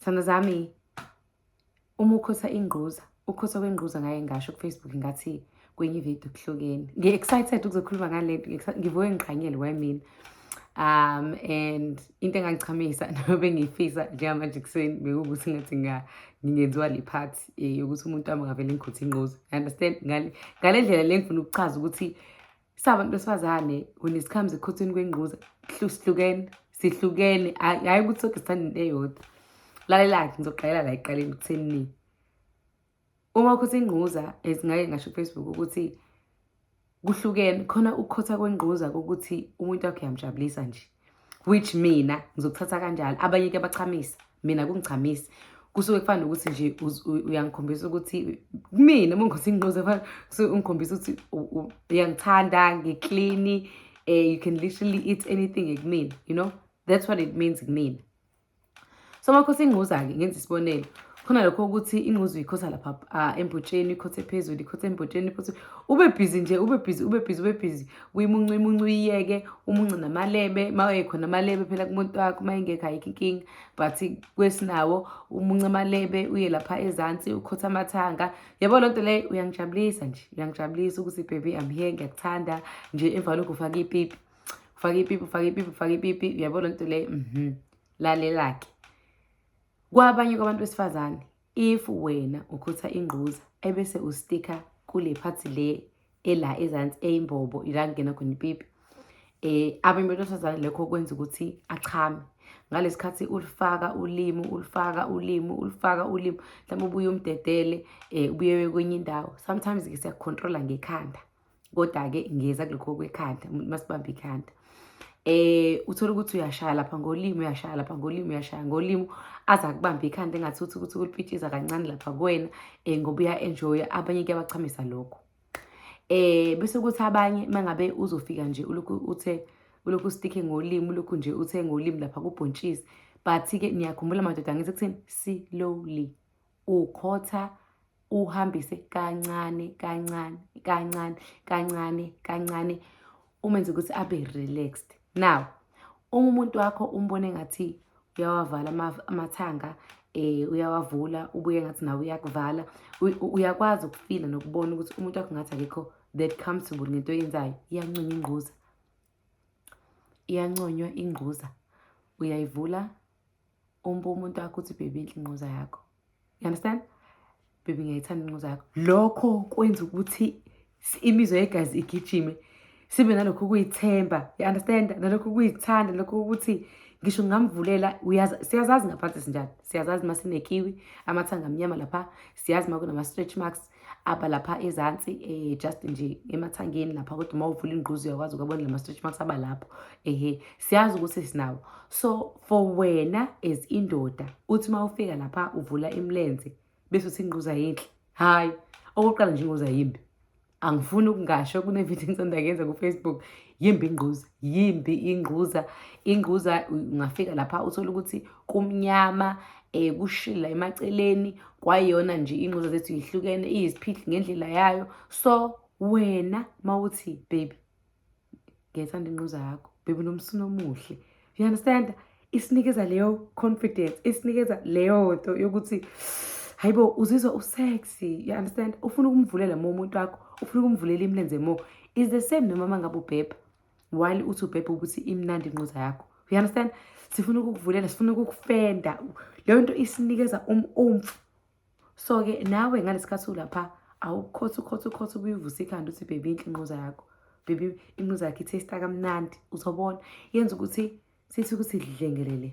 Thanda zami uma ukhosa ingquza ukhosa kwengquza ngaye ngasho kufacebook ngathi kwenye ivideo kuhlukeni ngi-excited ukuzokhuluma ngale nto ngivuke ngiqhanyele kwamina um and into engangichamisa nobe ngiyifisa njengamanje ekuseni bekuwukuthi ngathi ngingenziwa le part eh, yokuthi umuntu wami angavele ngikhuthi inquza understand ngale ndlela le ngifuna ukuchaza ukuthi Sabantu besifazane when it comes ekhuthweni kwengquza sihlukene sihlukene hhayi ukuthi soke sithanda into eyodwa lalela-ke ngizogqayela la ekuqaleni kuthenini uma ukhotha ingquza ngake ngasho kufacebook ukuthi kuhlukene khona ukukhotha kwengquza kokuthi umuntu wakho uyamjabulisa nje which mina ngizokuthatha kanjalo abanye ke bachamisa mina kungichamisa kusuke kufana nokuthi nje uyangikhombisa ukuthi kumina uma ngikhothi ngigqoze fana kusuke ungikhombisa ukuthi uyangithanda ngiklini um eh, you can literally eat anything kumina you know that's what it means kumina so amakhosi ingquza-ke ngenza isibonelo khona lokho ukuthi ingquza uyikhotha lapha ah, embhotsheni ikhothe phezulu ikhothe embhotsheni phothe ube bhizi nje ube bhizi ube bhizi ube bhizi uyimuncu imuncu uyiyeke umuncu namalebe uma ekhona amalebe phela kumuntu wakho uma engekho ayikho inkinga but kwesinawo umuncu amalebe uye lapha ezansi ukhotha amathanga yabo loo nto leyo uyangijabulisa nje uyangijabulisa ukuthi baby I'm here ngiyakuthanda nje emva kwalokho ufake ipipi ufake ipipi ufake ipipi ufake ipipi uyabona nto le mhm lalelake kwabanye kwabantu besifazane if wena ukhutha ingquza ebese ustika kule phathi le ela ezansi eyimbobo ila kungena khona ipipi eh abanye abantu besifazane lokho kwenza ukuthi achame ngalesikhathi ulifaka ulimi ulifaka ulimi ulifaka ulimi mhlawumbe ubuye umdedele um ubuye kwenye indawo sometimes-ke siyakukhontrola ngekhanda kodwa-ke ngeza kulokho kwekhanda umuntu masibambe ikhanda eh uthola ukuthi uyashaya lapha ngolimi uyashaya lapha ngolimi uyashaya ngolimi aza kubamba ikhanda engathi uthi ukuthi ukulipitshiza kancane lapha kuwena eh ngoba uya enjoy abanye kuyabachamisa lokho eh bese kuthi abanye mangabe uzofika nje ulokhu uthe ulokhu sticky ngolimi ulokhu nje uthe ngolimi lapha kubhontshisi but ke niyakhumbula madoda ngithi kuthini slowly ukhotha uhambise kancane kancane kancane kancane kancane umenze ukuthi abe relaxed now uma umuntu wakho umbone ngathi uyawavala amathanga eh uyawavula ubuye ngathi nawe uyakuvala uyakwazi ukufila nokubona ukuthi umuntu wakho ngathi akekho that comfortable ngento oyenzayo iyanconywa ingquza iyanconywa ingquza uyayivula umbe umuntu wakho uthi bhebi inhle inquza yakho you understand bhebi ngiyayithanda inquza yakho lokho kwenza ukuthi imizwa yegazi igijime sibe nalokho ukuyithemba you understand nalokho ukuyithanda lokho ukuthi ngisho ngingamvulela uyazi siyazazi ngaphansi sinjani siyazazi uma sinekiwi amathanga amnyama lapha siyazi uma kunama-stretch marks apha lapha ezantsi eh just nje emathangeni lapha kodwa uma uvula ingquzu uyakwazi ukubona lama stretch marks aba lapho ehe siyazi ukuthi sinawo so for wena as indoda uthi uma ufika lapha uvula imlenze bese uthi ingquzu ayinhle hayi okokuqala nje ingquzu ayimbi angifuni ukungasho kunevidiyo engisanda kuyenza kufacebook yimbi ingquza yimbi ingquza ingquza ungafika lapha uthole ukuthi kumnyama eh kushila emaceleni kwayona nje ingquza zethu yihlukene iyiziphihli ngendlela yayo so wena mawuthi baby ngiyayithanda ingquza yakho baby nomsini omuhle you understand isinikeza leyo confidence isinikeza leyo nto yokuthi hayibo uzizwa usexy you understand ufuna ukumvulela mo umuntu wakho ufuna ukumvulela imilenze mo is the same nomama ngabe ubhebha while uthi ubhebhe ukuthi imnandi inquza yakho you understand sifuna ukukuvulela sifuna ukukufenda leyo nto isinikeza umumfu so-ke nawe ngalesikhathi ulapha awukhotha ukhotha ukhotha ubuye uvuse ikhanda uthi bhebi inhle inquza yakho bhebi inquza yakho ithesta kamnandi uzobona yenza ukuthi sithi ukuthi dlengelele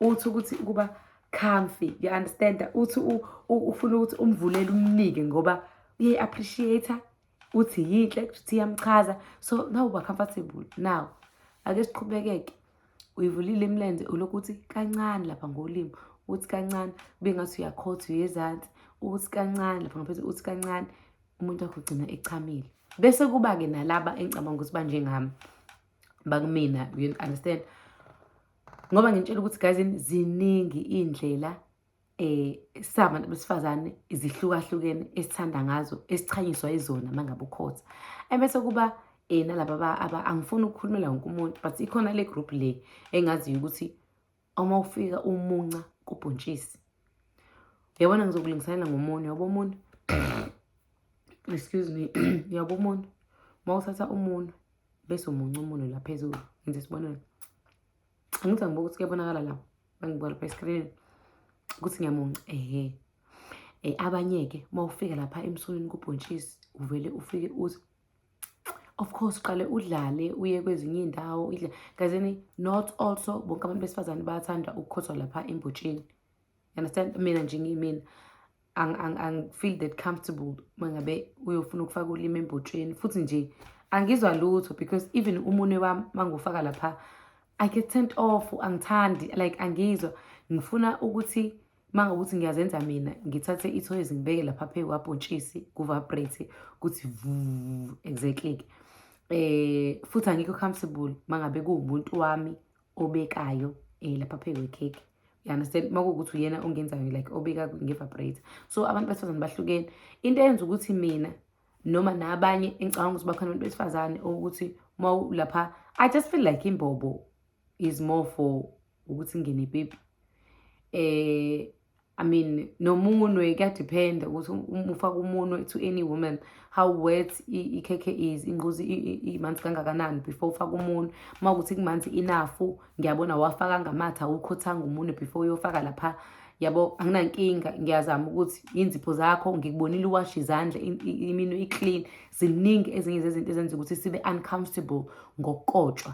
uthi ukuthi ukuba comfy you understand uthi ufuna ukuthi umvulele umnike ngoba uye appreciate uthi yinhle kuthi iyamchaza so now uba comfortable now ake siqhubekeke uyivulile imilenze ulokhu uthi kancane lapha ngolimi uthi kancane kube ngathi uyakhotha uyezansi uthi kancane lapha ngaphezulu uthi kancane umuntu wakho ugcina echamile bese kuba-ke nalaba engicabanga ukuthi banjengami bakumina you understand ngoba ngintshela ukuthi guys ziningi iy'ndlela eh sabantu besifazane izihlukahlukene esithanda ngazo esichanyiswa izona mangabe ukhotha ebese kuba eh nalaba aba angifuni ukukhulumela wonke umuntu but ikhona le group le engaziyo ukuthi uma ufika umunca kubhontshisi yabona ngizokulingiselela ngomunwe yabo umunwe excuse me yabo umunwe uma uthatha umunwe bese umunca umunwe la phezulu ngenza isibonelo angithi angibuka ukuthi kuyabonakala la mangibuka lapha eskrinini ukuthi ngiyamunca ehe um abanye-ke uma ufika lapha emsulwini kubhontshisi uvele ufike uthi of course uqale udlale uye kwezinye iy'ndawo kazini not also bonke abantu besifazane bayathanda ukukhothwa lapha embotsheni understand mina nje ngiyimina angifeel that comfortable uma ngabe uyofuna ukufaka ulimi embotsheni futhi nje angizwa lutho because even umunwe wami mangufaka lapha i get sent off angithandi like angizwa ngifuna ukuthi Uma ngokuthi ngiyazenza mina ngithathe ithoyizi ngibeke lapha phezu kwabhontshisi kuvabrate kuthi vu exactly ke eh futhi angikho comfortable mangabe kuwumuntu wami obekayo eh lapha phezu kwekhekhe you understand makuwukuthi uyena ongenzayo like obeka ngevabrate so abantu besifazane bahlukene into eyenza ukuthi mina noma nabanye engicabanga ukuthi bakhona abantu besifazane ukuthi uma lapha i just feel like imbobo is more for ukuthi ngene pipi eh I mean nomunwe kuyadepend ukuthi um, ufaka umunwe to any woman how wet ikhekhe is inquzi imanzi kangakanani before ufaka umunwe uma ukuthi kumanzi enough ngiyabona wafaka ngamatha awukhothanga umunwe before uyofaka lapha yabo anginankinga ngiyazama ukuthi inzipho zakho ngikubonile uwashe izandla iminwe iclean ziningi ezinye zezinto ezenza ukuthi sibe uncomfortable ngokukotshwa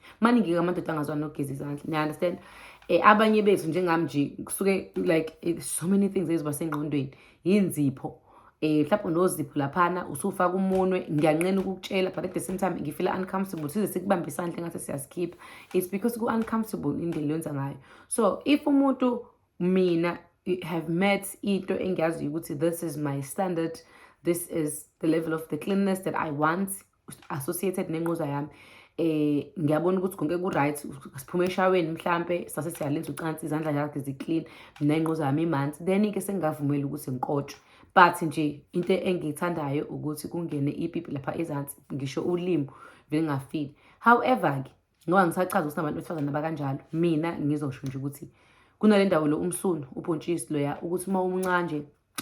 maningi-ke amadoda angazwa nokugeza izandla niunderstand um eh, abanye bethu njengami nje kusuke like eh, so many things eziba sengqondweni yinzipho eh mhlawumbe unozipho laphana usufaka umunwe ngiyanqena ukukutshela but at the same time ngifila uncomfortable size sikubambe isandla ngathi siyasikhipha it's because ku uncomfortable indlela yenza ngayo so if umuntu mina have met into engiyaziyo ukuthi this is my standard this is the level of the cleanliness that i want associated nenquza yami eh ngiyabona ukuthi konke ku right siphume eshaweni mhlambe sase siyalenza ucansi izandla zakhe zi clean mina inquza yami imanzi then ke sengavumela ukuthi ngikotshwe but nje into engiyithandayo ukuthi kungene ipipi lapha ezansi ngisho ulimi vele ngafile however ke ngoba ngisachaza ukuthi nabantu besifazane abakanjalo mina ngizosho nje ukuthi kunale ndawo lo umsunu ubhontshisi loya ukuthi uma umunca nje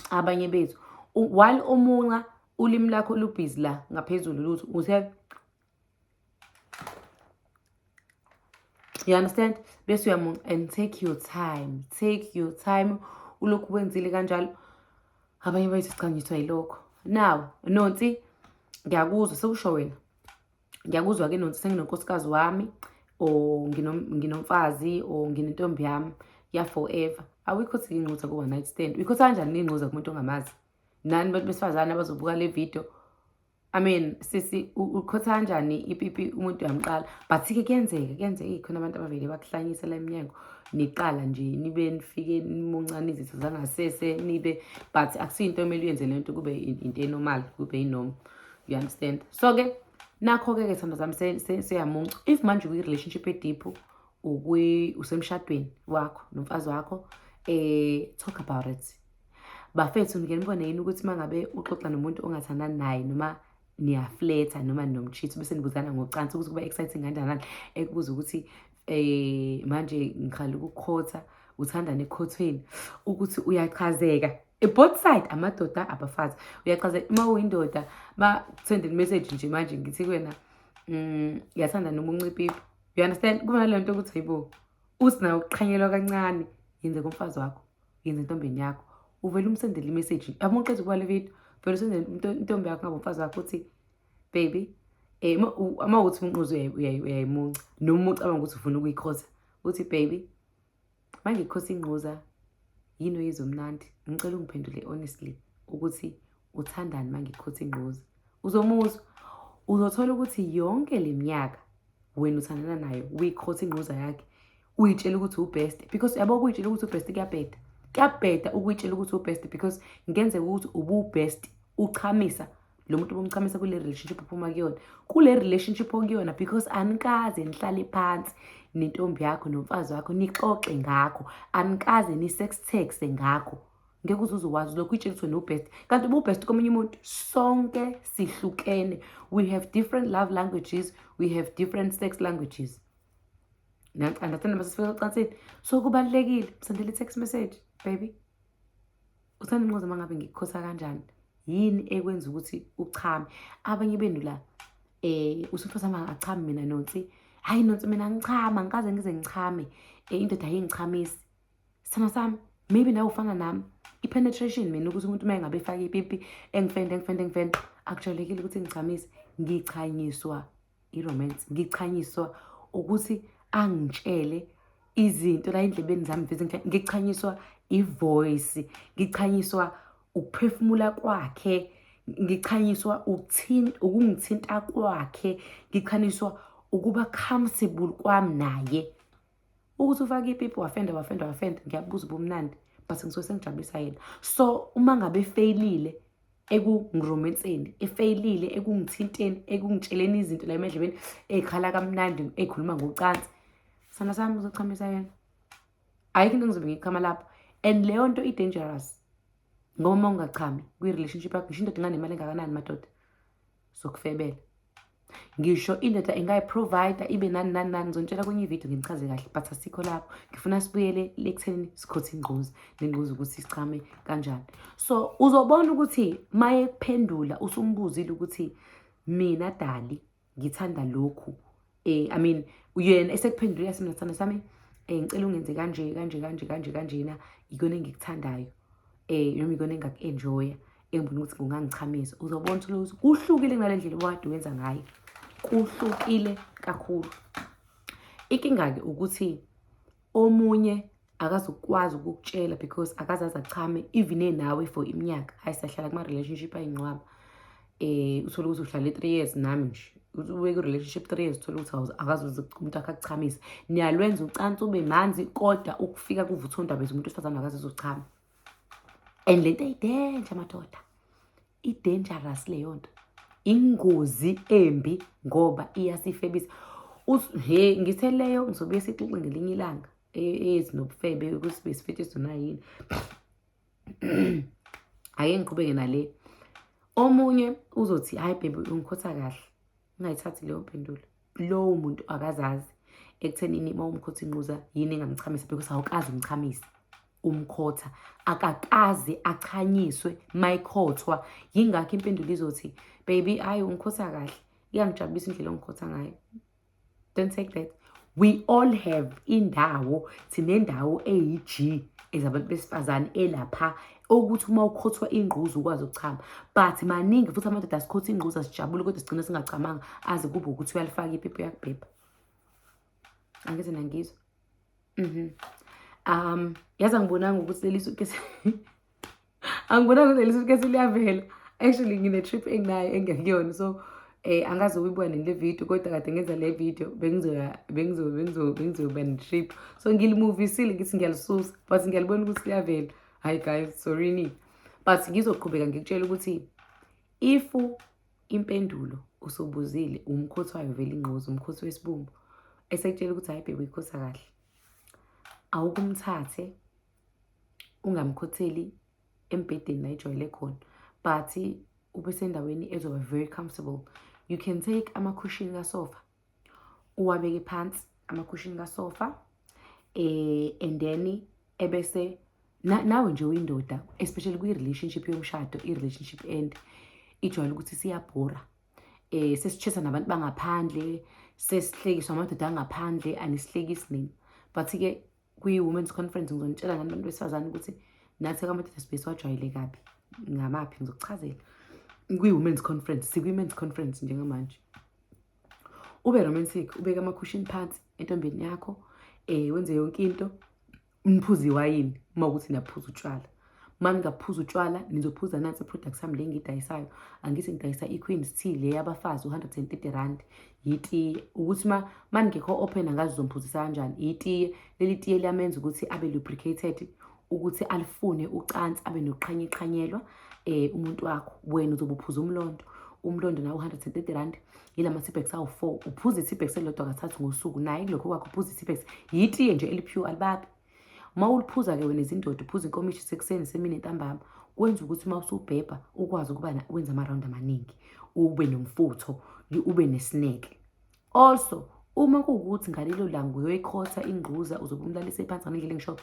abanye bethu while umunca ulimi lakho lubhizi la ngaphezulu lutho uthe you understand bese uyamunca and take your time take your time ulokhu wenzile kanjalo abanye bethu sichanyiswa yilokho now nonsi ngiyakuzwa sekusho wena ngiyakuzwa ke nothi senginonkosikazi wami or nginomfazi or nginentombi yami ya forever awikho ukuthi ngincuza ku-one night stand uyikho ukuthi kanjani nincuza kumuntu ongamazi nani bantu besifazane abazobuka le video I mean sisi ukhotha kanjani ipipi umuntu uyamqala but ke kuyenzeka kuyenzeka khona abantu abavele bakuhlanyisa la eminyango niqala nje nibe nifike nimuncane izitho zangasese nibe but akusiyo into omele uyenze le nto kube into enormal kube inoma you understand so ke nakho-ke ke thando zami seyamuncu if manje ukwi-relationship ediphu usemshadweni wakho nomfazi wakho um talk about it bafethu ngike nibone yini ukuthi uma ngabe uxoxa nomuntu ongathandani naye noma niyafletha noma nomtshitho bese nibuzana ngocansi ukuthi kuba exciting kanjani ekubuza ukuthi eh manje ngiqala ukukhotha uthanda nekhothweni ukuthi uyachazeka both side amadoda abafazi uyachazeka uma uyindoda bakusendele message nje manje ngithi kuwena mm yathanda noma uncipipi you understand kuba nalento ukuthi hayibo usina ukuqhanyelwa kancane yenze komfazi wakho yenze intombeni yakho uvele umsendele imessage yabo uqeda ukuba le video vele usendele intombi yakho ngabo mfazi wakho uthi baby eh uma uthi umnquzo uyayimunca noma ucabanga ukuthi ufuna ukuyikhosa uthi baby manje ikhosa ingquza yini oyizomnandi ngicela ungiphendule honestly ukuthi uthandani manje ikhosa ingquza uzomuzwa uzothola ukuthi yonke le minyaka wena uthandana nayo uyikhotha ingquza yakhe uyitshela ukuthi ubest because yabo ukuyitshela ukuthi ubest kuyabheda kuyabheda ukuyitshela ukuthi ubest because ngenzeka ukuthi ububest uchamisa lo muntu bomchamisa kule relationship uphuma kuyona kule relationship okuyona because anikaze nihlale phansi nentombi yakho nomfazi wakho nixoxe ngakho anikaze ni-sex taxe ngakho ngeke uze uzokwazi lokho itshengiswe nobest kanti ububest komunye umuntu sonke sihlukene we have different love languages we have different sex languages understand masesifika ocansini so kubalulekile msendele i-text message baby Uthanda inqoza uma ngabe ngikukhosa kanjani yini ekwenza ukuthi uchame abanye benu la eh usufosa ma achame mina nonsi hayi nonsi mina ngichama ngikaze ngize ngichame eh, indoda ayingichamisi sana sami maybe nawe ufana nami i-penetration mina ukuthi umuntu uma engabe efake ipipi engifende engifende engifende akujalekile ukuthi ngichamisi ngichanyiswa iromance ngichanyiswa ukuthi angitshele izinto la endlebeni zami vezi ngichanyiswa ivoice ngichanyiswa ukuphefumula kwakhe ngichanyiswa ukungithinta kwakhe ngichanyiswa ukuba comfortable kwami naye ukuthi ufake ipipi wafenda wafenda wafenda ngiyabuza ubumnandi but ngisuke sengijabulisa yena so uma ngabe efeyilile ekungiromenseni efeyilile ekungithinteni ekungitsheleni izinto la emedlebeni ey'khala kamnandi ey'khuluma ngocansi sana sami uzochamisa yena ayikho into engizobe ngiyichama lapho and leyo nto i-dangerous ngoba uma ungachami kwi-relationship yakho ngisho indoda inganemali engakanani madoda zokufebela ngisho indoda ingayiprovida ibe nani nani nani ngizonitshela kwenye ividiyo nginichaze kahle but asikho lapho ngifuna sibuyele ekuthenini sikhothe ingquza nengquza ukuthi sichame kanjani so uzobona ukuthi maye kuphendula usumbuzile ukuthi mina dali ngithanda lokhu eh i mean uyena esekuphendule yasimna sami sami eh ngicela ungenze kanje kanje kanje kanje kanjena ikona engikuthandayo eh noma ikona engaku-enjoya engibona ukuthi kungangichamisa uzobona ukuthi kuhlukile kunale ndlela obukade wenza ngayo kuhlukile kakhulu inkinga-ke ukuthi omunye akazokwazi ukukutshela because akazazi achame even enawe for iminyaka hayi sahlala kuma-relationship ayingcwaba um uthole ukuthi uhlale three years nami nje ubeke relationship three years uthole ukuthi akazuze umuntu akhe akuchamisa niyalwenza ucansi ube manzi kodwa ukufika kuvuthondaba umuntu wesifazane akazuze uchama and le nto ayidenja madoda i-dangerous leyo nto ingozi embi ngoba iyasifebisa he ngithe leyo ngizobuye sixoxe ngelinye ilanga ezinobufebe e, ukuthi besifethu sona yini ake ngiqhubeke nale omunye uzothi hayi bhebe ungikhotha kahle ngingayithathi leyo mpendulo lowo muntu akazazi ekuthenini uma umkhotha inquza yini engamchamisa because awukazi umchamisa umkhotha akakaze achanyiswe mayikhothwa yingakho impendulo izothi baby ayi umkhotha kahle iyangijabulisa indlela ongikhotha ngayo Don't take that. We all have indawo sinendawo eyi-G ezabantu besifazane elapha okuthi uma ukhothwa ingquza ukwazi ukuchama but maningi futhi amadoda asikhotha ingquza sijabule kodwa sigcine singachamanga aze kube ukuthi uyalifaka iphepha uyakubhebha angeze nangizwa mhm um yazi angibonanga ukuthi lelisu angibona ukuthi leli suitcase liyavela actually ngine-trip enginayo engekuyona so eh angazi uyibuka nini le video kodwa kade ngenza le video bengizoya bengizo bengizo bengizoba ne-trip so ngilimuvisile ngithi ngiyalisusa but ngiyalibona ukuthi liyavela hayi guys sorry ni but ngizoqhubeka ngikutshela ukuthi if impendulo usubuzile umkhothi wayo vele ingqozi umkhothi wesibumbu esekutshela ukuthi hayi bhebe uyikhosa kahle awukumthathe ungamkhotheli embhedeni la ejwayele khona but ube sendaweni ezoba very comfortable you can take amakhushini kasofa uwabeke phansi amakhushini kasofa eh and then ebese nawe nje uyindoda especially kwi-relationship yomshado i-relationship end ijwayele ukuthi siyabhora eh sesitshesa nabantu bangaphandle sesihlekiswa amadoda angaphandle anisihlekisi nini but-ke kwi-women's conference ngizonitshela ngani abantu besifazane ukuthi nathi kamadoda sibe siwajwayele kabi ngamaphi ngizokuchazela kwi-women's conference sikwi-men's conference njengamanje ube romantic ubeke amakhushini phansi entombeni yakho um wenze yonke into niphuze iwayini uma ukuthi naphuza utshwala uma ningaphuza utshwala nizophuza nansi i-product sami le ngiyidayisayo angithi ngidayisa i-queen tea le yabafazi u-hundred and thirty rand yitiye ukuthi ma ma ningekho open angazi uzomphuzisa kanjani yitiye leli tiye liyamenza ukuthi abe lubricated ukuthi alifune ucansi abe nokuqhanyeqhanyelwa um eh, umuntu wakho wena uzobe uphuza umlondo umlondo nawo u-hundred and thirty rand yila ma-tipex awu-four uphuza i-tipex elilodwa kathathu ngosuku naye kulokho kwakho uphuza i-tipex yitiye nje elipure alibabi Uma uliphuza-ke wena izindoda uphuza inkomishi sekuseni semini entambama kwenza ukuthi uma usubhebha ukwazi ukuba wenza amarawundi amaningi ube nomfutho ube nesineke also uma kuwukuthi ngalelo langa uyoyikhotha ingquza uzobe umlalise phansi ngendlela engisho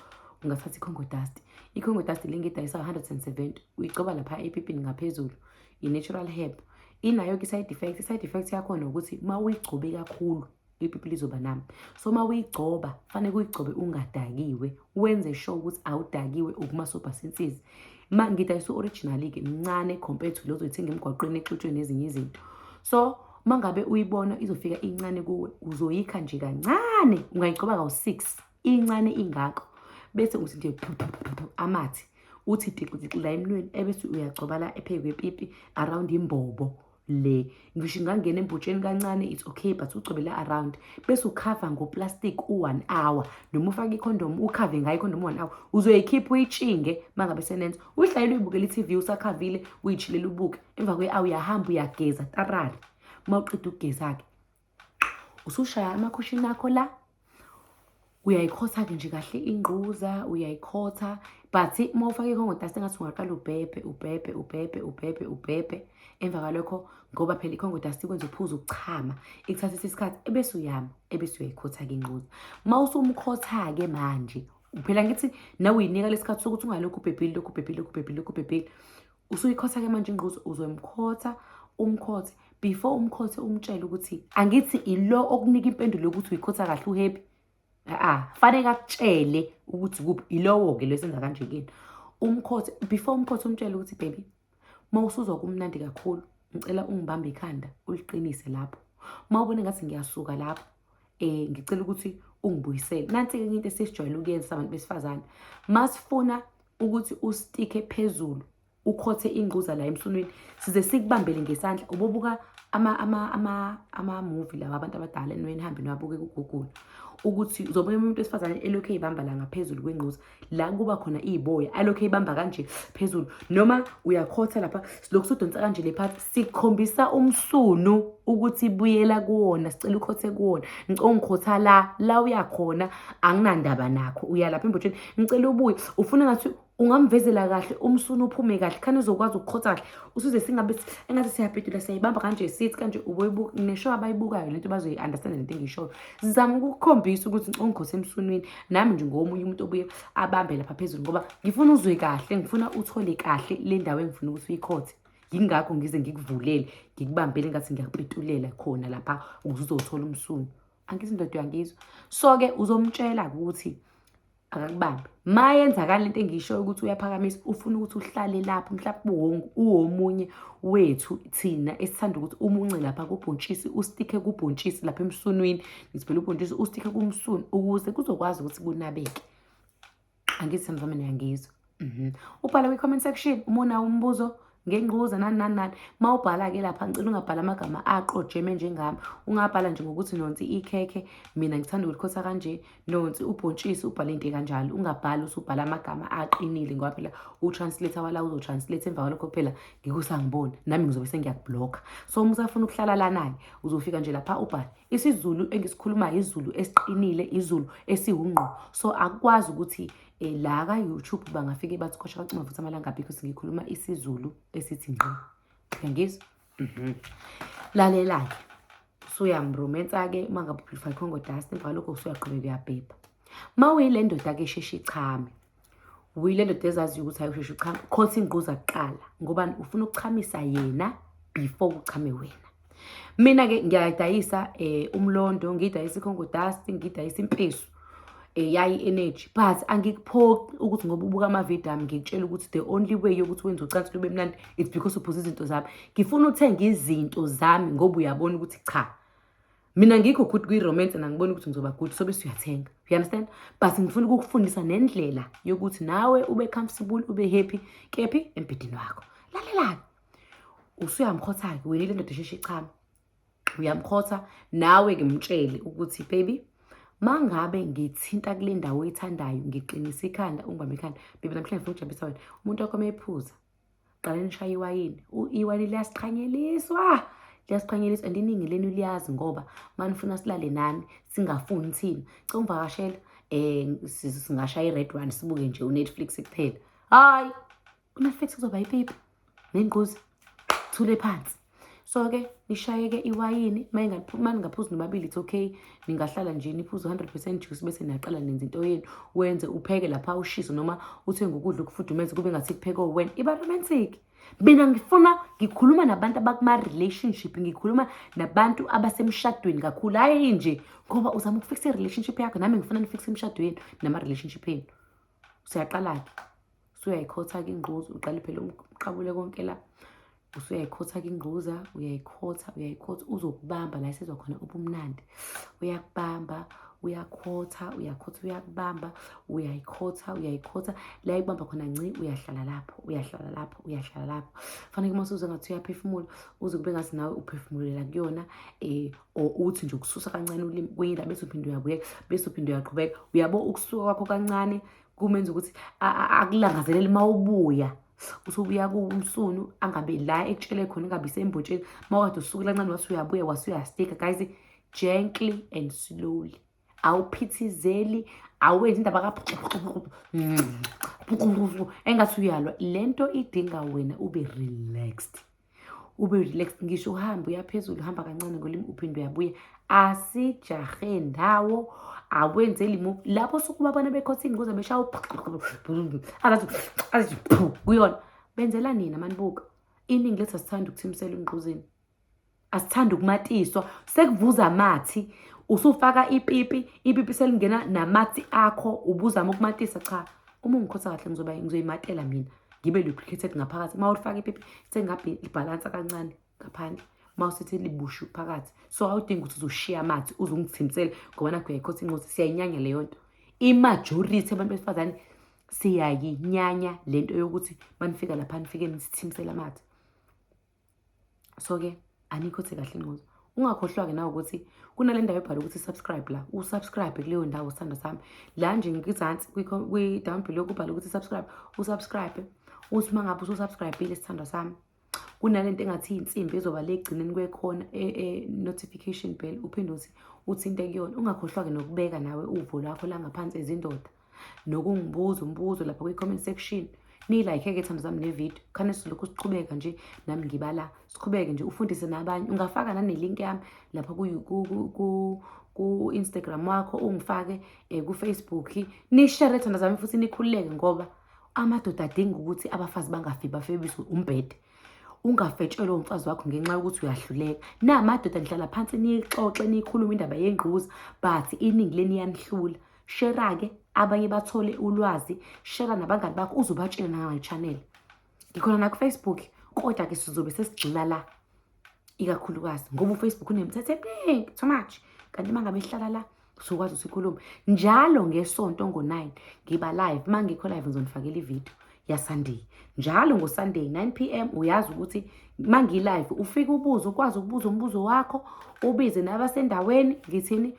ungathatha i-congo dust i-congo dust le ngedayisa 170 uyigcoba lapha epipini ngaphezulu i-natural herb inayo-ke i-side effect i-side effect yakhona ukuthi uma uyigcobe kakhulu ipipi lizoba nami so uma uyigcoba fanele uyigcobe ungadakiwe wenze sure ukuthi awudakiwe ukumasobha sensizi ma ngidayisa u-originali-ke mncane compared to lezo ithenga emgwaqweni exutshwe nezinye izinto so uma ngabe uyibona izofika incane kuwe uzoyikha nje kancane ungayigcoba kawu-six incane ingako bese uthi nje amathe uthi diqidixi la emnweni ebese uyagcoba la ephezu kwepipi around imbobo le ngisho ingangena embhutsheni kancane it's okay but ugcobele around bese ukhava ngoplastic u-one hour noma ufake ikhondomu ukhave ngayo ikhondomu u-one hour uzoyikhipha uyitshinge uma ngabe senenza uyihlalele uyibukela i-tv usakhavile uyitshilela ubuke emva kwe-hour uyahamba uyageza tarara uma uqeda ukugeza-ke usushaya amakhushini akho la uyayikhotha-ke nje kahle ingquza uyayikhotha but uma ufake ikhongotasi engathi ungaqala ubhebhe ubhebhe ubhebhe ubhebhe ubhebhe emva kwalokho ngoba phela ikhongotasi ikwenza uphuza ukuchama ikuthathisa isikhathi ebese uyama ebese uyayikhotha-ke ingquza uma usumkhotha-ke manje phela ngithi nawe uyinika lesikhathi sokuthi ungalokhu ubhebhile lokhu ubhebhile lokhu ubhebhile lokhu ubhebhile usuyikhotha-ke manje ingquza uzoyimkhotha umkhothe before umkhothe umtshele ukuthi angithi ilo okunika impendulo yokuthi uyikhotha kahle uhappy a-a faneke akutshele ukuthi kuphi ilowo-ke lesenza kanje kini umkhothe before umkhothe umtshele ukuthi baby uma usuzwa kumnandi kakhulu ngicela ungibambe ikhanda uliqinise lapho uma ubone ngathi ngiyasuka lapho eh ngicela ukuthi ungibuyisele nansi ke into esijwayele ukuyenza abantu besifazane masifuna ukuthi ustike phezulu ukhothe ingquza la emsunwini size sikubambele ngesandla ubobuka ama ama ama ama movie lawa abantu abadala enweni hambe niwabuke ku Google ukuthi uzobuya umuntu wesifazane elokhu eyibamba la ngaphezulu kwengquza la kuba khona iy'boya alokhu eyibamba kanje phezulu noma uyakhotha lapha silokhu sodonsa kanje le phathi sikhombisa umsunu ukuthi buyela kuwona sicela ukhothe kuwona ngicela ungikhotha la la uyakhona anginandaba nakho uya lapha embotsheni ngicela ubuye ufuna ngathi ungamvezela kahle umsunu uphume kahle khani uzokwazi ukukhotha kahle usuze singabe engathi siyabhedula siyayibamba kanje sithi kanje uboyibuka nesho abayibukayo lento bazoyi-understanda lento engiyishoyo Sizama ukukhombisa ukuthi ngicongikho semsunwini nami nje ngomunye umuntu obuye abambe lapha phezulu ngoba ngifuna uzwe kahle, ngifuna uthole kahle le ndawo engifuna ukuthi uyikhothe. Yingakho ngize ngikuvulele, ngikubambele ngathi ngiyakupetulela khona lapha ukuze uzothola umsunu. Angithi indoda uyangizwa? So-ke uzomtshela ukuthi akakubambi ma yenzakala lento engisho ukuthi uyaphakamisa ufuna ukuthi uhlale lapho mhlawumbe uwomunye wethu thina esithanda ukuthi umunce lapha kubhontshisi ustikhe kubhontshisi lapha emsunwini ngizibhela ubhontshisi ustikhe kumsunu ukuze kuzokwazi ukuthi kunabeke angithi samzamane yangizwa Mhm. Ubhale kwi comment section uma unawo umbuzo ngengquza nani nani nani. Uma ubhala ke lapha ngicela ungabhala amagama aqojeme njengami. Ungabhala nje ngokuthi nonsi ikhekhe mina ngithanda ukulikhosa kanje nonsi ubhontshisi ubhale into kanjalo. Ungabhali usubhala amagama aqinile ngoba phela u translator wala uzo translate emva kwalokho phela ngikusangibona nami ngizobe sengiyakublocka. So uma usafuna ukuhlala lana ke uzofika nje lapha ubhale isiZulu engisikhulumayo izulu esiqinile izulu esiwungqo. So akwazi ukuthi Eh, la ka-youtube bangafike bathi khosha bathi ungavuthi amalanga abikho singikhuluma isizulu esithi ngqi yangizwa mhm. lalela-ke suyamrumensa-ke uma ngabe uphilifa ikhongo dust emva kwalokho usuyaqhubeka uyabhebha ma uyile ndoda-ke sheshe ichame uyile ndoda ezaziyo ukuthi ayosheshe uchame khotha ingquza kuqala ngoba ufuna ukuchamisa yena before uchame wena Mina-ke ngiyadayisa eh, umlondo, ngidayisa ikhongo dust, ngidayisa impesu eh, yayi energy but angikuphoqi ukuthi ngoba ubuka amavidiyo ami ngikutshela ukuthi the only way yokuthi wenze ucansi lube mnandi it's because uphuza izinto zami ngifuna uthenge izinto zami ngoba uyabona ukuthi cha mina ngikho good kwi-romance and angiboni ukuthi ngizoba good sobe siyathenga you understand but ngifuna ukukufundisa nendlela yokuthi nawe ube comfortable ube happy kephi embhedini wakho lalelani usuyamkhotha-ke wena le ndoda esheshe ichama uyamkhotha nawe-ke mtshele ukuthi baby mangabe ngithinta kule ndawo oyithandayo ngiqinisa ikhanda ungibambe ikhanda baby namhlanje ngifuna ukujabulisa wena umuntu wakho uma ephuza qala nishaye iwayini iwayini liyasiqhanyeliswa liyasiqhanyeliswa and iningi lenu liyazi ngoba manifuna silale nani singafuni thina cela ungivakashela um eh, singashaya i-red one sibuke nje unetflix kuphela hayi kunefethi kuzoba ipipi nengquzi thule phansi so-ke nishayeke iwayini uma ningaphuzi nobabili it's okay ningahlala nje niphuze u-hundred percent juice bese niyaqala nenza into yenu wenze upheke lapha ushise noma uthenge ukudla ukufudumeze kube ngathi kupheke wena iba romantic mina ngifuna ngikhuluma nabantu abakuma-relationship ngikhuluma nabantu abasemshadweni kakhulu hhayi nje ngoba uzama ukufikisa i-relationship yakho nami ngifuna nifikise imishado yenu nama-relationship yenu usuyaqala-ke usuyayikhotha-ke ingquza uqale phela umqabule konke la usuyayikhotha-ke ingquza uyayikhotha uyayikhotha uzokubamba la esizwa khona ubumnandi uyakubamba uyakhotha uyakhotha uyakubamba uyayikhotha uyayikhotha la ikubamba khona nci uyahlala lapho uyahlala lapho uyahlala lapho faneke uma usuze ngathi uyaphefumula uze kube ngathi nawe uphefumulela kuyona um or uthi nje ukususa kancane ulimi kwenye indaba bese uphinde uyabuyeka bese uphinde uyaqhubeka uyabo ukusuka kwakho kancane kumenza ukuthi akulangazelele uma ubuya usubuya kumsunu angabe la ekutshele khona ingabe isembotsheni uma kade usukela ncane wathi uyabuya wase uyastika guys gently and slowly awuphithizeli awenzi indaba ka engathi uyalwa le nto idinga wena ube relaxed ube relax ngisho uhambe uyaphezulu uhamba kancane ngolimi uphinde uyabuya asijahe ndawo akwenzeli mu lapho sukuba abana bekhothini kuze beshawo azathi kuyona benzela nina manibuka iningi lethu asithanda ukuthimisela umgquzini asithanda ukumatiswa sekuvuza amathi usufaka ipipi ipipi selingena namathi akho ubuzama ukumatisa cha uma ungikhotha kahle ngizoyimatela mina ngibe lubricated ngaphakathi uma ulifaka ipipi sengabe libhalansa kancane ngaphandle uma usethi libushu phakathi so awudingi ukuthi uzoshiya amathe uze ungithimisele ngoba nakho uyayikhosa incosi siyayinyanya leyo nto imajority abantu besifazane siyayinyanya le nto yokuthi manifika lapha nifike nisithimisele amathe so-ke anikho the kahle ncozo ungakhohlwa-ke nawe ukuthi kunale ndawo ebhala ukuthi subscribe la usubscribe kuleyo ndawo sithanda sami la nje ngikizansi kwi-down below kubhala ukuthi subscribe usubscribe uthi uma ngabe ususubscribile sithanda sami kunale nto engathi iy'nsimbi ezoba le egcineni kwekhona e-notification e, bell uphinde uthi uthinte kuyona ungakhohlwa-ke nokubeka nawe uvo lwakho la ngaphansi ezindoda nokungibuza umbuzo lapha kwi-comment section niyilike-ke thando zami nevidiyo khane silokhu siqhubeka nje nami ngibala siqhubeke nje ufundise nabanye ungafaka nanelink yami lapha ku-instagram wakho ungifake um kufacebook nishere thando zami futhi nikhululeke ngoba amadoda adinga ukuthi abafazi bangafi bafebiswe umbhede ungafetshelwe umfazi wakho ngenxa yokuthi uyahluleka namadoda nihlala phansi niyixoxe niyikhulume indaba yengquza but iningi leni yanihlula Shera-ke abanye bathole ulwazi, shera nabangani bakho uzobatshela nangale channel. Ngikhona nakufacebook kodwa-ke sizobe sesigxila la ikakhulukazi ngoba ufacebook unemithetho eminingi too much kanti uma ngabe ihlala la sokwazi ukuthi ikhulume njalo ngesonto ngo-nine ngiba live uma ngikho live ngizonifakela ividiyo yasunday njalo ngosunday 9 p m uyazi ukuthi uma ngilive ufike ubuze ukwazi ukubuza umbuzo wakho ubize nabasendaweni ngithini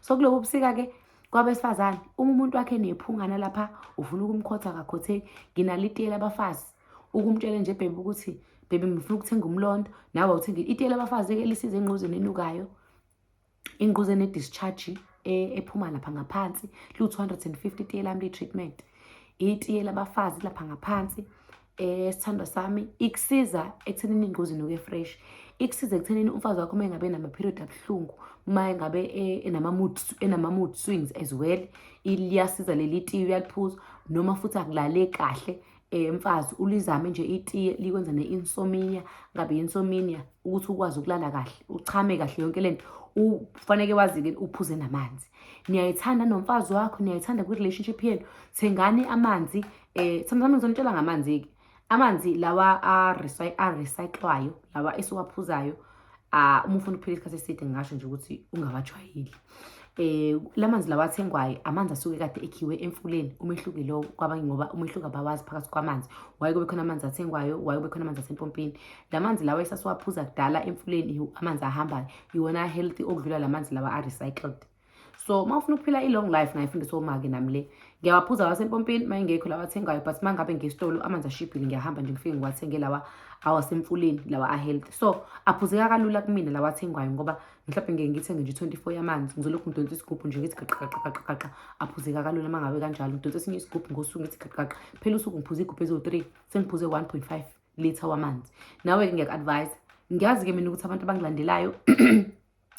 so kulobu busika-ke kwabesifazane uma umuntu wakhe nephungana lapha ufuna ukumkhotha akakhotheki nginalo itiyela abafazi ukumtshela nje bhebe ukuthi bhebe ngifuna ukuthenga umlondo nawe uthenga itiyela abafazi-ke lisize engquzeni enukayo ingquze ne-discharge e, ephuma lapha ngaphansi liwu-250 itiye lami liyi-treatment itiye labafazi lapha ngaphansi Eh sithandwa sami ikusiza ekuthenini ingozi noke fresh. Ikusiza ekuthenini umfazi wakho mengabe nama period abuhlungu, uma engabe eh, enama mood enama mood swings as well. Iliyasiza leli tiye uyaliphuza noma futhi akulale kahle eh mfazi ulizame nje itiye likwenza ne insomnia ngabe insomnia ukuthi ukwazi ukulala kahle, uchame kahle yonke lento. Ufanele wazi ke uphuze namanzi. niyayithanda nomfazi wakho niyayithanda kwi-relationship yenu thengani amanzi um eh, sometimes ngizonitshela ngamanzi-ke amanzi lawa arecyclwayo lawa esiwaphuzayo uh, uma ufuna ukuphila isikhathi eside ngingasho nje ukuthi ungawajwayeli eh lamanzi lawa athengwayo amanzi asuke kade ekhiwe emfuleni umehluko lo kwabanye ngoba umehluko abawazi phakathi kwamanzi waye kube khona amanzi athengwayo waye kube khona amanzi asempompini lamanzi lawa esasiwaphuza kudala emfuleni amanzi ahambayo iwona healthy okudlula la manzi lawa a-recycled so uma ufuna ukuphila i-long life ngayifundisa omake nami le ngiyawaphuza wasempompini uma ingekho lawa athengayo but uma ngabe ngesitolo amanzi ashibhile ngiyahamba nje ngifike ngiwathenge lawa awasemfuleni lawa a-healthy so aphuzeka kalula kumina lawa athengwayo ngoba mhlawumbe ngeke ngithenge nje i-24 yamanzi ngizolokhu ngidonsa isigubhu nje ngithi gaqaqaqaqaqaqa aphuzeka kalula uma ngabe kanjalo ngidonsa esinye isigubhu ngosuku ngithi gaqaqaqa phela usuku ngiphuza igubhu eziwu-three sengiphuze 1.5 litha wamanzi nawe-ke ngiyaku-advise ngiyazi-ke mina ukuthi abantu abangilandelayo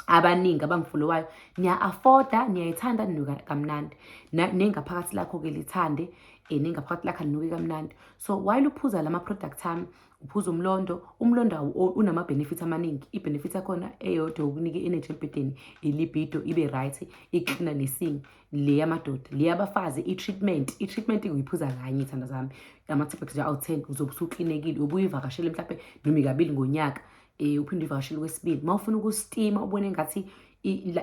abaningi abangifolowayo niya-afforda niyayithanda ninuka kamnandi nengaphakathi lakho-ke lithande um eh, nengaphakathi lakho linuke kamnandi so while uphuza la ma-product ami uphuza umlondo umlondo unama-benefit amaningi i-benefit yakhona eyodwa yokunika i-energy embhedeni ilibido ibe right iklina nesinye le yamadoda le yabafazi i-treatment i-treatment uyiphuza kanye thanda zami ama-tablets awu ten uzobe usuklinekile ubuye ivakashele mhlawumbe noma ikabili ngonyaka um uphinde uyivakashele kwesibili uma ufuna ukustima ubone ngathi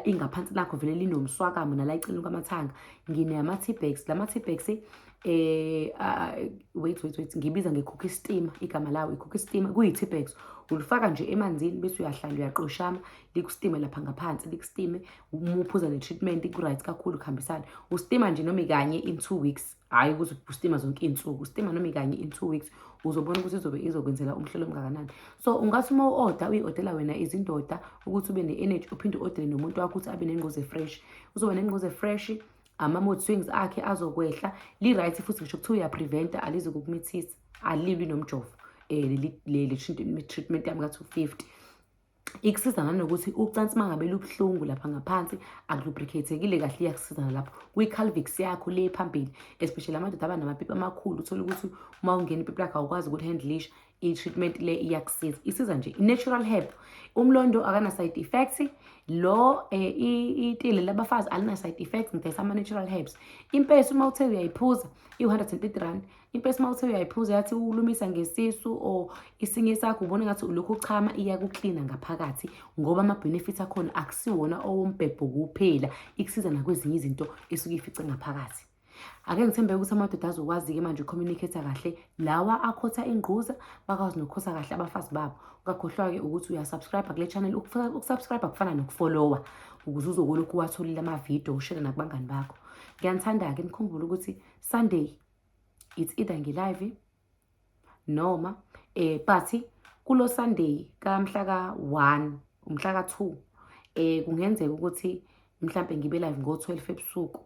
ingaphansi lakho vele linomswakamo nala icini kwamathanga nginama-tbags la ma-tbags um eh, ah, wait wait wait ngibiza ngekhokha istima igama lawo ikhokha istima kuyi-tbags ulifaka nje emanzini bese uyahlala uyaqoshama likusitime lapha ngaphansi likusitime uma uphuza ne-treatment iku-right kakhulu kuhambisana ustima nje noma ikanye in two weeks hhayi ukuze ustima zonke iy'nsuku ustima noma ikanye in two weeks uzobona ukuthi izobe izokwenzela umhlolo omngakanani so ungathi uma u-oda uyi-odela wena izindoda ukuthi ube ne-energy uphinde u-odele nomuntu wakho ukuthi abe nengquze fresh uzoba nengquze fresh ama-mood swings akhe azokwehla li-right futhi ngisho kuthiwa uyapreventa alizi kukumithisa alilwi nomjovo um eh, le-treatment yami ka-two fifty ikusiza nanokuthi ucansi uma ngabe lubuhlungu lapha ngaphansi akulubricatekile kahle iyakusiza nalapho kwi-calvix yakho le phambili especially amadoda aba namapipi amakhulu uthole ukuthi uma ungena ipipi lakho awukwazi ukuthi handlish i-treatment le iyakusiza isiza nje i-natural herb umlondo akana-side effect lo eh, itile labafazi alina-side effect ngidayisa ama-natural herbs impesi uma uthe uyayiphuza iwu-130 rand impesi uma uthe uyayiphuza yathi ukulumisa ngesisu or isinye isakho ubona ngathi ulokhu uchama iyakuklina ngaphakathi ngoba ama-benefit akhona akusiwona owombhebho kuphela ikusiza nakwezinye izinto esuke ifice ngaphakathi ake ngithembeke ukuthi amadoda azokwazi-ke manje ucommunicate kahle lawa akhotha ingquza bakwazi nokukhotha kahle abafazi babo ungakhohlwa-ke ukuthi uyasubscribe kule channel ukusubscribe kufana nokufollowa ukuze uzokolokhu uwatholile amavidiyo ushele nakubangani bakho ngiyanithanda-ke nikhumbule ukuthi sunday it's either ngilive noma eh but kulo Sunday kamhla ka 1 umhla ka 2 eh kungenzeka ukuthi mhlambe ngibe live ngo 12 ebusuku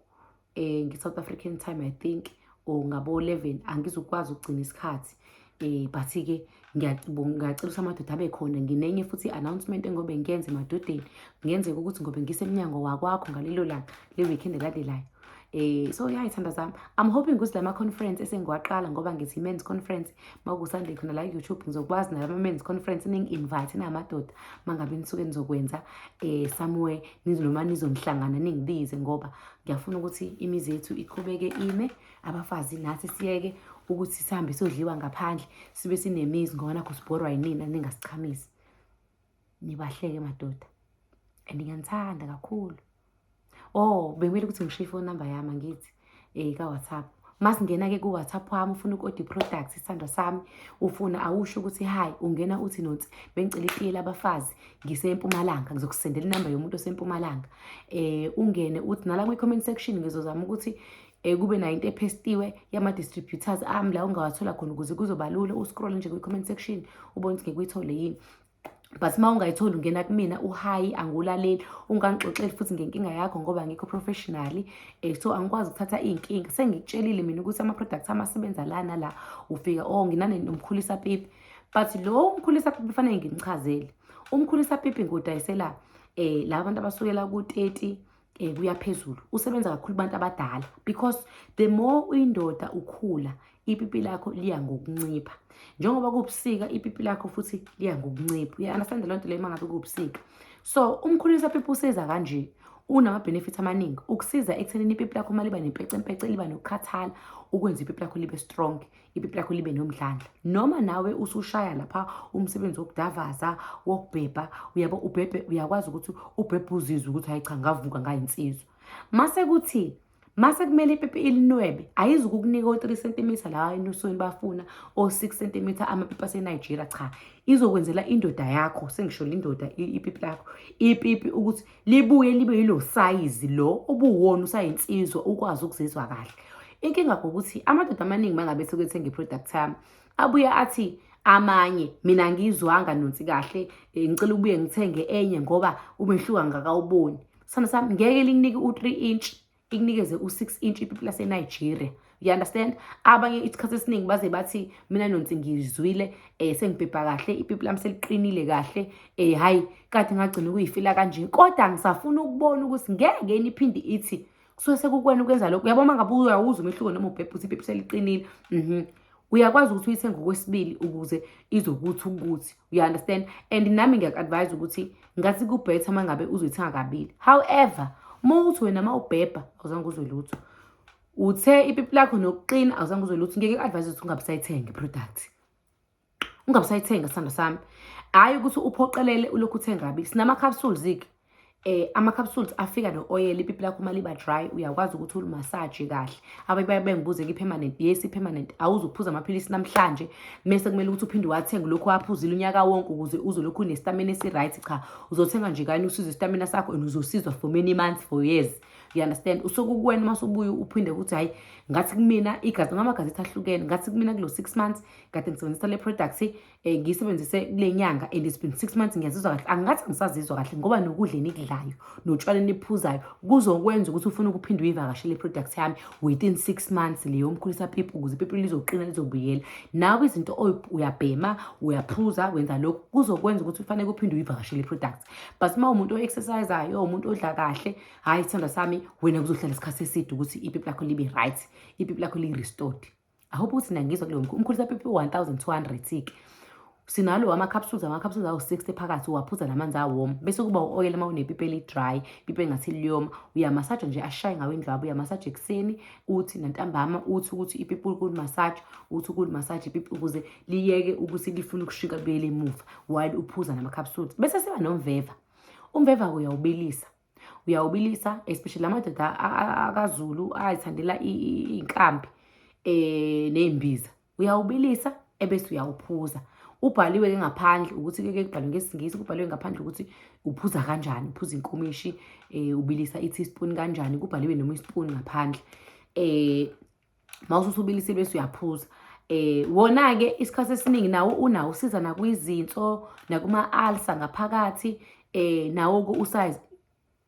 eh ngi South African time i think or ngabo 11 angizukwazi ukugcina isikhathi Eh but-ke ngiyacela ukuthi amadoda abe khona nginenye futhi i-announcement engobe ngiyenze emadodeni kungenzeka ukuthi ngobe ngisemnyango wakwakho ngalelo langa le-weekend elandelayo eh so ya ithanda zami i'm hoping ukuthi lama conference esengiwaqala ngoba ngithi men's conference makusande khona la YouTube ngizokwazi nalama men's conference ningi invite namadoda mangabe nisuke nizokwenza eh somewhere nizoloma nizonhlangana ningibize ngoba ngiyafuna ukuthi imizi yethu iqhubeke ime abafazi nathi siyeke ukuthi sihambe sodliwa ngaphandle sibe sinemizi ngoba nakho sibhorwa yinina ningasichamisi nibahleke madoda and ngiyanithanda kakhulu oh bekumele ukuthi ngishiye ifoni number yami angithi um ka-whatsapp masingena-ke ku-whatsapp wami ufuna ukodi product isithandwa sami ufuna awusho ukuthi hayi ungena uthi nonsi bengicela itiye labafazi ngisempumalanga ngizokusendela inamba yomuntu osempumalanga um ungene uthi nala kwi-comment section ngizozama ukuthi um kube nayo into ephestiwe yama-distributors ami la ungawathola khona ukuze kuzoba lula uscroll nje kwi-comment section ubone ukuthi ngikuyithole yini but uma ungayitholi ungena kumina uhayi angulaleli ungangixoxeli futhi ngenkinga yakho ngoba ngikho professionally um so angikwazi ukuthatha iy'nkinga sengikutshelile mina ukuthi ama-products ami asebenza lana la ufika o oh, nginane nomkhulisa pipi but lo umkhulisa pipi fanele ngimchazele umkhulisa pipi ngiwudayisela um eh, laba bantu abasukela ku-thirty um kuya phezulu usebenza kakhulu kubantu abadala because the more uyindoda ukhula ipipi lakho liya ngokuncipha njengoba kubusika ipipi lakho futhi liya ngokuncipha uya-understand loo nto leyo uma ngabe kubusika so umkhulisa pipi usiza kanje unama-benefit amaningi ukusiza ekuthenini ipipi lakho uma liba nempecempece liba nokukhathala ukwenza ipipi lakho libe strong ipipi lakho libe nomdlandla noma nawe usushaya lapha umsebenzi wokudavaza wokubhebha uyabo ubhebhe uyakwazi ukuthi ubhebhe uzizwe ukuthi hayi cha ngavuka ngayinsizwa mase kuthi mase kumele ipipi ilinwebe ayizukukunika o-3 cm la enusweni bafuna o-6 cm amapipi asenigeria cha izokwenzela indoda yakho sengisho lindoda ipipi lakho ipipi ukuthi libuye libe yilo sayizi lo obuwona usayinsizwa ukwazi ukuzizwa kahle inkinga ukuthi amadoda amaningi mangabe sekwethenga i-product yami abuye athi amanye mina ngizwanga nonsi kahle eh, ngicela ubuye ngithenge enye ngoba umehluka ngakawuboni sana sami ngeke linginike u-3 inch ikunikeze u-6 inch ipipi lasenigeria you understand abanye isikhathi esiningi baze bathi mina nonsi ngizwile um eh, sengibhebha kahle ipipi lami seliqinile kahle um hhayi kade ngagcina ukuyifila kanje kodwa ngisafuna ukubona ukuthi ngeke niphinde ithi kusuke sekukwena ukwenza lokho uyabona uma ngabe uyawuza umehluko noma ubhebhe ukuthi ipipi seliqinile um uyakwazi ukuthi uyithenge okwesibili ukuze izokuthi ukuthi you understand and nami ngiyaku-advise ukuthi ngathi kubhetha uma ngabe uzoyithenga kabili however uma uthi wena uma ubhebha awuzange uzwe lutho uthe ipipi lakho nokuqina awuzange uzwe lutho ngeke ku-advise ukuthi ungabisayithenge product ungabisayithenga sithando sami hhayi ukuthi uphoqelele ulokhu uthengabi sinama-capsules-ke eh ama-capsules afika no-oyela ipipi lakho uma liba dry uyakwazi ukuthi ulimasaje kahle abanye baye bengibuze ki-permanent yes i-permanent awuze uphuze amaphilisi namhlanje mese kumele ukuthi uphinde uwathenge lokhu waphuzile unyaka wonke ukuze uzolokhu unestamina esi-right cha uzothenga nje kanye usize istamina sakho and uzosizwa for many months for years you understand usuke kuwena uma usubuye uphinde ukuthi hhayi ngathi kumina igazi ngamagazethi ahlukene ngathi kumina kulo six months kade ngisebenzisa le product eh, ngiyisebenzise kule nyanga and it's been six months ngiyazizwa kahle angathi angisazizwa kahle ngoba nokudla enikudlayo notshwala eniphuzayo kuzokwenza ukuthi ufune ukuphinde uyivakashele i-product yami within six months leyo mkhulisa pipi ukuze ipipi lizoqina lizobuyela nawe izinto uyabhema uyaphuza wenza lokhu kuzokwenza ukuthi ufanele uphinde uyivakashele i-product but uma umuntu o-exercisayo umuntu odla kahle hhayi isithandwa sami wena kuzohlala isikhathi eside ukuthi ipipi lakho libe right ipipi lakho li-restored I hope ukuthi nangizwa kuleyo mkhu. Umkhulisa pipi 1200 ke. Sinalo ama capsules ama capsules awu 60 phakathi uwaphuza namanzi awom bese kuba uoil uma unepipi eli dry pipi engathi liyoma uyamasaja nje ashaye ngawe indlwabu uyamasaja ekuseni uthi nantambama uthi ukuthi ipipi ukuli massage uthi ukuli massage ipipi ukuze liyeke ukuthi lifuna ukushika buyele emuva while uphuza nama capsules bese siba nomveva umveva uyawubilisa uyawubilisa especially amadoda akazulu ayithandela iy'nkambi um ney'mbiza uyawubilisa ebese uyawuphuza ubhaliwe ke ngaphandle ukuthi ke kubhalwe ngesingisi kubhaliwe ngaphandle ukuthi uphuza kanjani uphuza inkomishi um ubilisa i-teaspoon kanjani kubhaliwe noma ispoon ngaphandle um uma ususubilise bese uyaphuza eh wona-ke isikhathi esiningi nawo unawo usiza nakwizinso nakuma-alsa ngaphakathi eh nawo-ke usize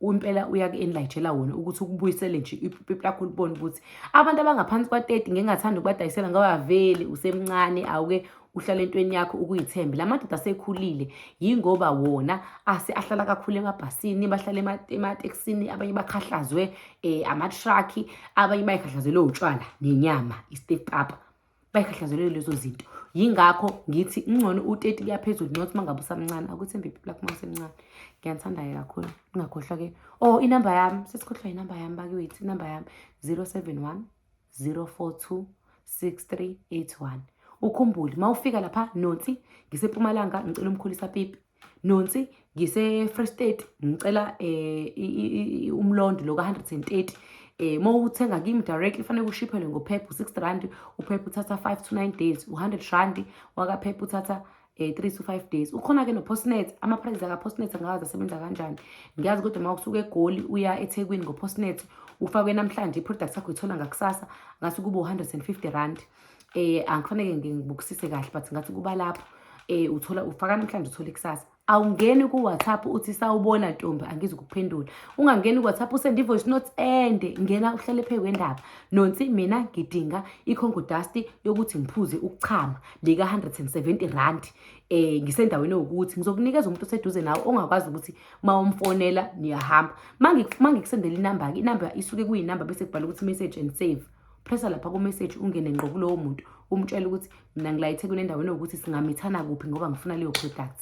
impela uyaku-enlightshela wona ukuthi ukubuyisele nje iphupho lakho libone ukuthi abantu abangaphansi kwa-30 ngingathanda ukubadayisela ngoba vele usemncane awuke uhlala entweni yakho ukuyithembe la madoda asekhulile yingoba wona ase ahlala kakhulu emabhasini bahlala ematekisini abanye bakhahlazwe um eh, amatraki abanye bayikhahlazelwe utshwala nenyama i-step up bayikhahlazelwe lezo zinto yingakho ngithi ngcono u-teti kuyaphezulu not uma ngabe usamncane akuthembe iphi lakho uma usemncane ngiyanithanda-ke kakhulu ungakhohlwa-ke o oh, inamba yami sesikhohlwa yinamba yami bakiwethu inamba yami zero seven one 042 6381 ukhumbule uma ufika lapha nonsi ngisempumalanga ngicela umkhulisa pipi nonsi ngise-free state ngicela um umlondo lo ka-hundred and thirty um uma uthenga kimi directly kufanele kushiphelwe ngophepha u-six rand uphepha uthatha five to nine days u-hundred rand wakaphepha uthatha eh 3 to 5 days ukhona ke no postnet ama prices aka postnet angazi asebenza kanjani ngiyazi kodwa uma usuke egoli uya eThekwini ngo postnet ufakwe namhlanje iproduct yakho ithola ngakusasa ngathi kubo 150 rand eh angifanele ngibukisise kahle but ngathi kuba lapho eh uthola ufaka namhlanje uthole kusasa awungeni ku WhatsApp uthi sawubona ntombi angizi kuphendula ungangeni ku WhatsApp usende voice note ende ngena uhlale phe kwendaba nonsi mina ngidinga ikhongo dust yokuthi ngiphuze ukuchama lika-170 rand um eh, ngisendaweni ewukuthi ngizokunikeza umuntu oseduze nawe ongakwazi ukuthi ma umfonela niyahamba ma ngikusendela inamba-ke inamba isuke kuyinamba bese kubhala ukuthi message and save pressa lapha kumessage ungene ngqo kulowo muntu umtshele ukuthi mina ngilayithe kunendaweni ewukuthi singamithana kuphi ngoba ngifuna leyo product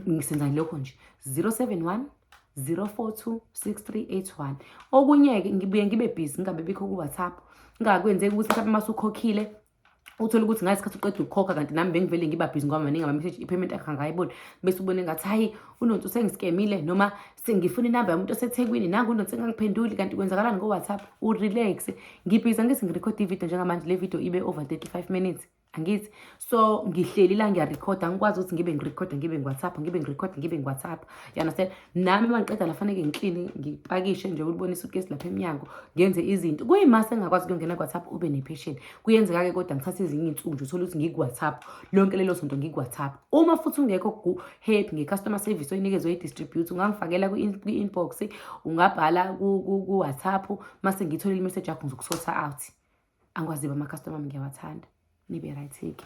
ngisenzani lokho nje 071 042 6381 okunye-ke ngibuye ngibe busy ngingabe bikho ku-whatsapp ngingakwenzeki ukuthi mhlawumbe uma usukhokhile uthole ukuthi ngaye sikhathi uqeda ukukhokha kanti nami bengivele ngiba busy ngoba maningi ama-message i-payment yakhe angayiboni bese ubone ngathi hhayi unonsi usengisikemile noma sengifuna inamba yomuntu osethekwini nangu unonsi engangiphenduli kanti kwenzakalani ngo-whatsapp urelax ngibhiza ngithi ngirekhode ividiyo njengamanje le vidiyo ibe over 35 minutes angithi so ngihleli la ngiyarekhoda ngikwazi ukuthi ngibe ngirekhoda ngibe ngiwhatsapp ngibe ngirekhoda ngibe ngiwhatsapp you understand nami uma ngiqeda lafaneke ngiklini ngipakishe nje ulibonisa ukugesi lapha emnyango ngenze izinto kuyimase engakwazi kuyongena ku-whatsapp ube nephesheni kuyenzeka-ke kodwa ngithathe ezinye iy'nsuku nje uthole ukuthi ngiku-whatsapp lonke lelo sonto ngiku-whatsapp uma futhi ungekho ku-happy nge-customer service oyinikezwe i-distribute ungangifakela kwi-inbox ungabhala ku-whatsapp uma sengiyitholile imeseji yakho ngizokusotha out angikwaziba ama-customer ami ngiyawathanda nibe right-ke